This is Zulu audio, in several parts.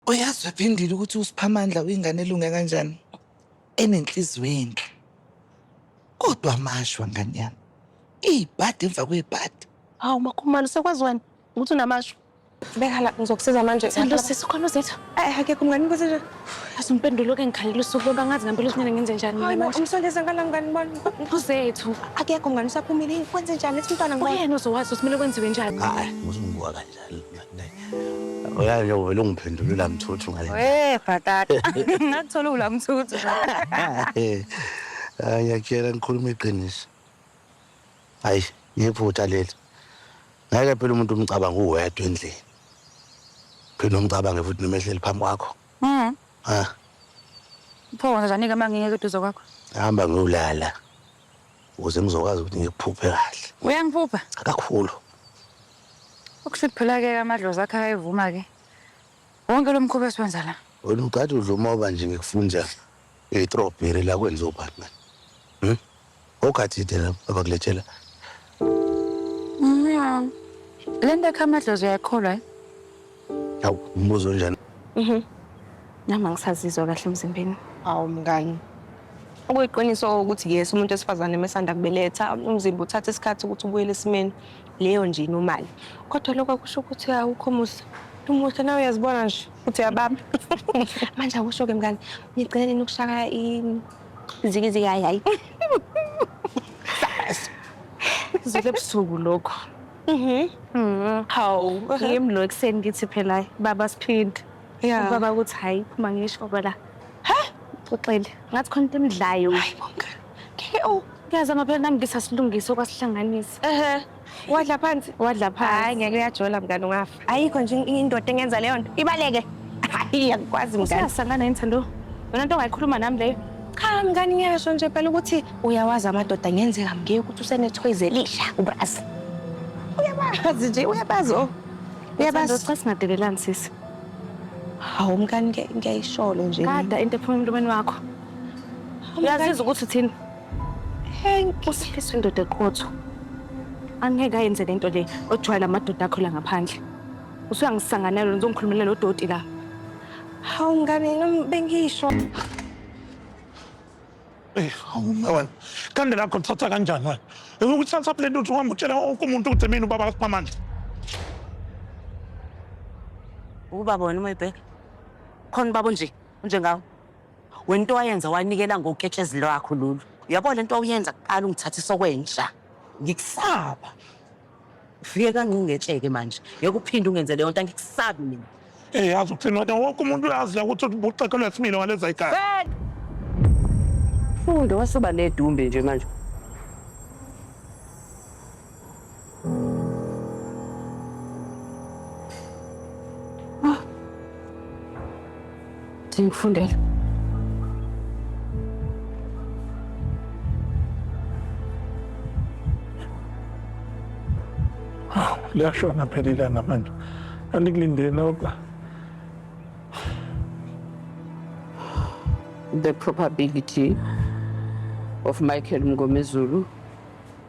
Uyazi wephindile ukuthi uSiphamandla uyingane elunge kanjani enenhliziyo enhle. Kodwa amashwa ngane yami. Ibhadi emva kwebhadi. Hawu makhumalo sekwazi wena ukuthi unamasho. Beka la ngizokusiza manje. Sandlo sisi khona uzethu. Eh akekho mngani ukuthi nje. Yazi umpendulo ke ngikhalela usuku loba ngazi ngempela usinene ngenze njani. Hayi manje umsondeza ngala mngani bani. Uzethu. Akekho mngani usaphumile kwenze njani ethi umntwana ngibona. Uyena uzowazi ukuthi kumele kwenziwe njani. Hayi ngizungwa kahle. Uyazi nje uvele ungiphendule la mthuthu ngale. We bhatata. Ngathola ula mthuthu. Eh. Ah, Ngiyakutshela ngikhuluma iqiniso. Hayi, ngiphutha leli. Ngeke phela umuntu umcabanga uwedwa endlini. Phela umcabange futhi noma ehleli phambi kwakho. Mhm. Ah, Pho wona zanike mangingeke eduze kwakho. hamba ngiyolala. ukuze ngizokwazi ukuthi ngikuphuphe kahle uyangiphupha kakhulu ukusho ukuthi phela-ke amadlozi akhe ayevuma-ke wonke lo mkhuba esiwenza la wena ugade udla umoba nje ngikufunda itrobheri la kwenziwa ubani mani hmm? ogadide la abakulethela Mnyaa. Le nto ekha amadlozi uyayikholwa eh? Hawu, umbuzo onjani? Nami angisazizwa kahle emzimbeni. Awu mngani. Okuyiqiniso ukuthi yes umuntu wesifazane mesanda kubeletha umzimba uthatha isikhathi ukuthi ubuyele esimeni leyo nje inomali. Kodwa lokho akusho ukuthi awukho muhle. Umuhle nawe uyazibona nje ukuthi uyababa. Manje akusho ke mngani. Nigcine nini ukushaya i Ziki ziki hayi hayi. Zule busuku lokho. Mhm. Mhm. Hawu. Ngim lo ekseni ngithi phela baba siphinde. Yeah. Ubaba ukuthi hayi phuma ngisho bala. Ha? Uxele. Ngathi khona into emidlayo. Hayi bonke. Ngeke u. Ngiyazama phela nami ngisasilungisa okwasihlanganisa. Ehhe. Wadla phansi. Wadla phansi. Hayi ngeke uyajola mngane ungafa. Ayikho nje indoda engenza leyo nto. Ibaleke. Hayi angikwazi mngane. Usiyasangana yini Thando? Yona nto ongayikhuluma nami leyo. Cha mngane ngiyasho nje phela ukuthi uyawazi amadoda ngenzeka mngeke ukuthi usenethoyizi elisha ubrazi. Uyabazi nje uyabazi o. Uyabazi. Thando cha singadelelani sisi. Hawu mngane ngiyayisholo nje. Kada into ephuma emlomeni wakho. Uyaziza ukuthi uthini? Henki. Usifiso indoda eqotho. Angeke ayenze lento le ojwayela amadoda akho la ngaphandle. Usuyangisanganela lo nizongikhulumela lo doti la. Hawu ngane nami bengisho. Eh, hawu mna wena. Kande lakho lithatha kanjani wena? Ukuthatha le ntuthu uhamba utshela wonke umuntu ukuthi mina ubaba kaSiphamandla. Ubaba wena uma ibheka. Khona ubaba onje, onjengawe. Wento wayenza wanikela ngoketshezi lwakho lolu. Uyabo lento wawuyenza kuqala ungithatha isokwenja. Ngikusaba. Ufike kancingetsheke manje. Ngeke uphinde ungenze leyo nto angikusabi mina. Eh yazi ukuthini wena wonke umuntu uyazi la ukuthi ubuxekelwe similo ngaleza igala. Fed! Fundo wasuba nedumbe nje manje. Ah. Ndingifundela. Ah, liyashona phela ilanga manje andikulindele noba the probability of Michael Mngomezulu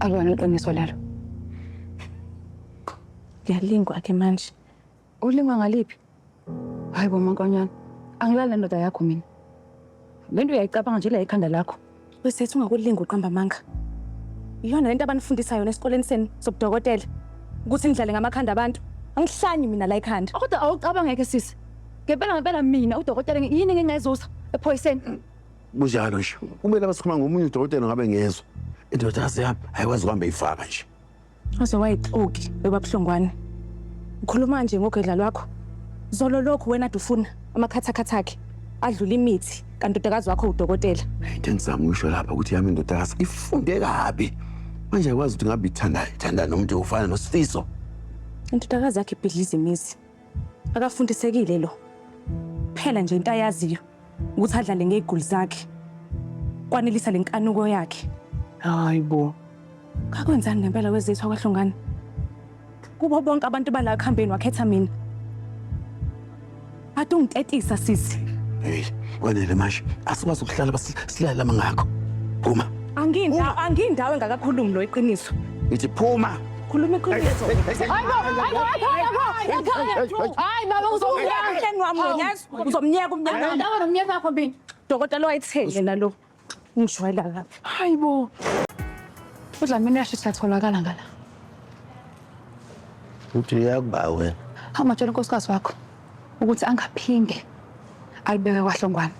Akwani iqiniso lelo. Ngiyalingwa ke manje. Ulingwa ngaliphi? Hayi bo mankonyana. Angilali nendoda yakho mina. Lento uyayicabanga nje la ekhanda lakho. Wesethu ungakulinga uqamba amanga. Iyona lento abanifundisa yona esikoleni senu sobudokotela ukuthi nidlale ngamakhanda abantu. Angihlanyi mina la ekhanda. Kodwa awucabangeke sisi. Ngempela ngempela mina udokotela ngi- yini ngingezuza ephoyiseni? Kunjalo nje. Kumele abasixhuma ngomunye udokotela ngabe ngezwa. Indodakazi yami ayikwazi kuhamba ifaka nje. Waze wayixoki webabuhlongwane. Ukhuluma nje ngogedla lwakho. Zolo lokhu wena dufuna amakhathakhatha akhe adlula imithi kantodakazi wakho udokotela. Into engizama ukusho lapha ukuthi yami indodakazi ifunde kabi. Manje ayikwazi ukuthi ngabe ithandayo, ithanda nomuntu ofana noSifiso. Intodakazi yakhe ibhidliza imizi. Akafundisekile lo. Phela nje into ayaziyo ukuthi adlale ngegoli zakhe. Kwanelisa lenkanuko yakhe. Hayi bo. Kakwenzani ngempela wezethu akwahlongani? Kubo bonke abantu bala khambeni wakhetha mina. Ade ungitetisa sisi. Hey, kwanele manje. Asikwazi ukuhlala basilala mangakho. Phuma. Angindawo angindawo engakakhulumi lo iqiniso. Ngithi phuma. Khuluma iqiniso. Hayibo, hayibo, ekhaya, ekhaya, ekhaya. Hayi baba uzomnyeka emhleni wami wena yazi. Uzomnyeka umnyaka wami. Ndawo nomnyaka wakho mina. Dokotela wayitheni yena lo? Ungishwayela lapha. Hayibo. UDlamini uyashisa atholakala ngala. Uthi uyakuba wena. Awumatshela unkosikazi wakho ukuthi angaphinde alibeke kwahlongwane.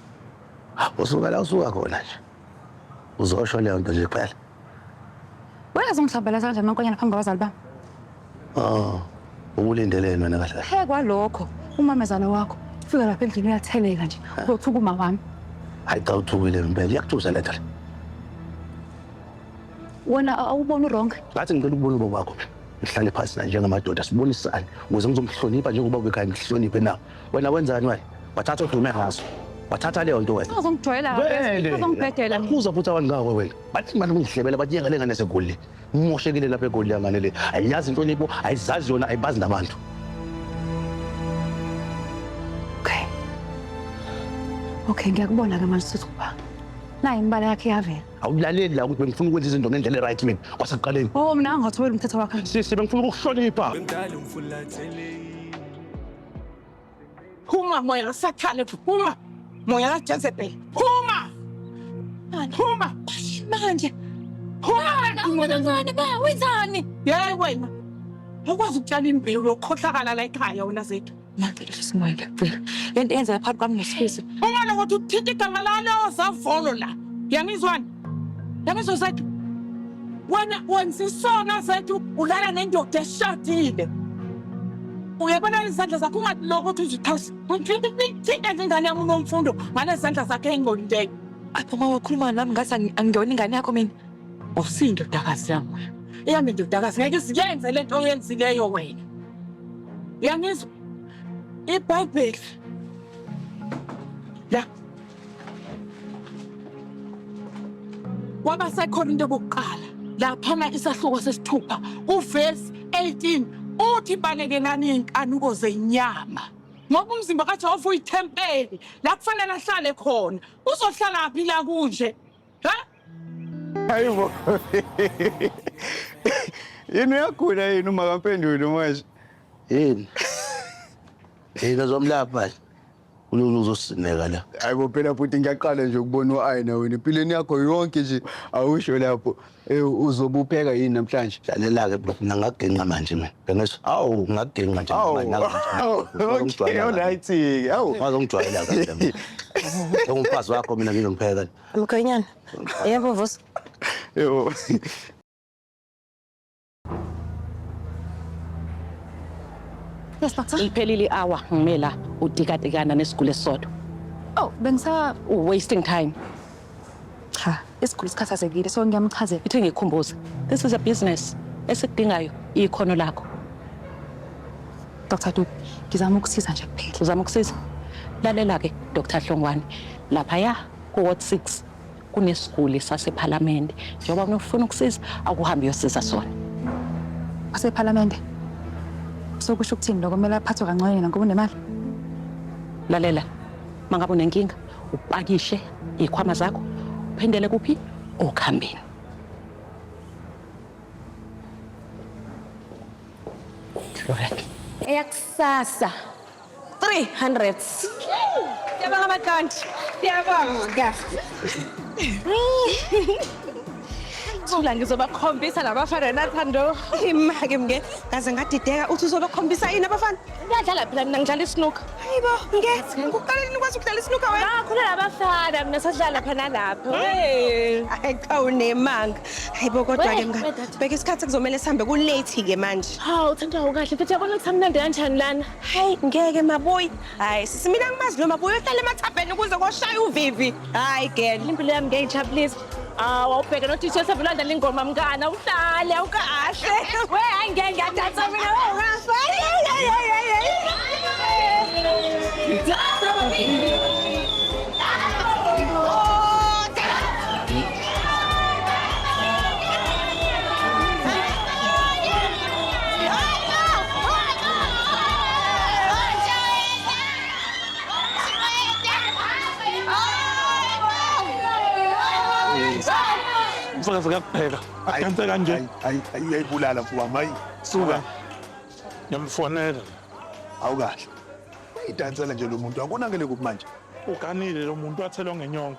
Usuka la usuka khona nje. Uzosho leyo nto nje kuphela. Wena uzongihlambalaza kanjani mankonyana phambi kwabazali bami? Oh, ubulindeleni wena kahle kahle? Phekwa lokho umamezala wakho ufika lapha endlini uyatheleka nje uzothuka uma wami. Hayi cha uthukile impela iyakuthusa lento le. Wena awuboni wrong. Ngathi ngicela ukubona ubaba wakho. Ngihlale phansi naye njengamadoda sibonisane ukuze ngizomhlonipha njengoba ubekhaya ngihloniphe na. Wena wenzani wena? Wathatha odume ngaso. Wathatha leyo nto wena. Uzongijwayela Vele. uzongibhedela mina. Uza futhi abantu ngawe wena. Bathi manje ungihlebela bathi yeka lengane segoli. Moshekile lapha egoli yangane le. Ayiyazi inhlonipho, ayizazi yona, ayibazi nabantu. Okay. Okay, ngiyakubona ke manje sisi ukuba. Nayi imbala yakhe yavela. Awulaleli la ukuthi bengifuna ukwenza izinto ngendlela right mina. Kwasekuqaleni. Oh, mina angathobela umthetho wakhe. Sisi bengifuna ukukuhlonipha. Bengidala umfulathele Phuma moya kaSathane, phuma moya kaJezebeli, phuma phuma manje, phuma wenzani? Yeyi wena ukwazi ukutshala imbewu yokukhohlakala la ekhaya wena zethu lento yenza phakathi kwami nesifiso uma lokuthi uthinta igama lalo zavolo la yangizwani Yabezo zethu. Wena wenza isono zethu ulala nendoda eshadile. Uyabona izandla zakho ungatiloko ukuthi uzixhase. Ngithinta ingane yami unomfundo ngale zandla zakhe engqondileyo. Apho uma wakhuluma nami ngathi angiyona ingane yakho mina. Usindodakazi yami wena. Eyami indodakazi ngeke isiyenze le nto oyenzileyo wena. Uyangizwa? IBhayibheli. La. KwabaseKorinte bokuqala laphana isahluko sesithupha uvesi 18 uthi balekelani iy'nkanuko zenyama ngoba umzimba kajehova uyithempeli la kufanele ahlale khona uzohlala phi la kunje ha Hayi bo. Yini uyagula yini uma kampenduli manje? Yini? Yini uzomlapha nje? Unyonyo uzosineka la. Hayi bo phela futhi ngiyaqala nje ukubona u-ayina wena empilweni yakho yonke nje awusho lapho Eh, uzobupheka yini namhlanje Lalela-ke bro, mina ngaginqa manje mina. Bengezwa. Awu, ngaginqa nje. Awu, manje, naku nje. awu, Ufuna okay, ukungijwayela kahle. alright-ke, awu. Ufuna ukungijwayela kahle mina. Njengomfazi wakho mina ngizompheka. Mkhwenyana. Yebo vusa. Yebo. Yes, doctor. Liphelile i-hour ngime la udikatikana nesiguli esisodwa. Oh, bengisa wasting time. Cha, isiguli sikhathazekile so ngiyamchazela. Ithi ngikhumbuze. This is a business. Esikudingayo ikhono lakho. Dr. Duke, ngizama ukusiza nje kuphela. Uzama ukusiza? Lalela ke Dr. Hlongwane. Lapha ya ku ward 6 kunesiguli sasephalamende njengoba kunofuna ukusiza akuhambe uyosiza sona asephalamende sokusho ukuthini lokho kumele aphathwe kancane yena ngoba unemali lalela mangabe unenkinga upakishe ikhwama zakho uphendele kuphi okhambeni Florek. Eyakusasa 300. Siyabonga Makanti. Siyabonga. Thula ngizobakhombisa labafana nathando. Imake mke kaze ngadideka uthi uzobakhombisa yini abafana? Ngiyadlala phela mina ngidlala isnook. Hayibo mke ukuqala nini ukwazi ukudlala isnook wena? Ngakhona labafana mina sadlala phana lapho. Hey. Ay cha unemanga. Hayibo kodwa ke mngani. Bheka isikhathi kuzomela sihambe ku late ke manje. Hawu thanda ukahle mfethu yabona ukuthi amnandi kanjani lana. Hayi ngeke maboy. Hayi sisi mina ngimazi lo maboy ohlala emathabheni ukuze koshaya uvivi. Hayi girl. Impilo yami ngeke ijabulise. Hawu awubheke no DJ sevelanda lengoma mngana uhlale awukahle. We hayi ngeke ngiyadansa mina ungafa. Ngithatha baby. mfakazi kakupheka adanse kanje ayibulala mfowethu wami suka ngiyamfonela awukahle idansela nje lo muntu akonakele kuphi manje uganile lo muntu wathelwa ngenyongo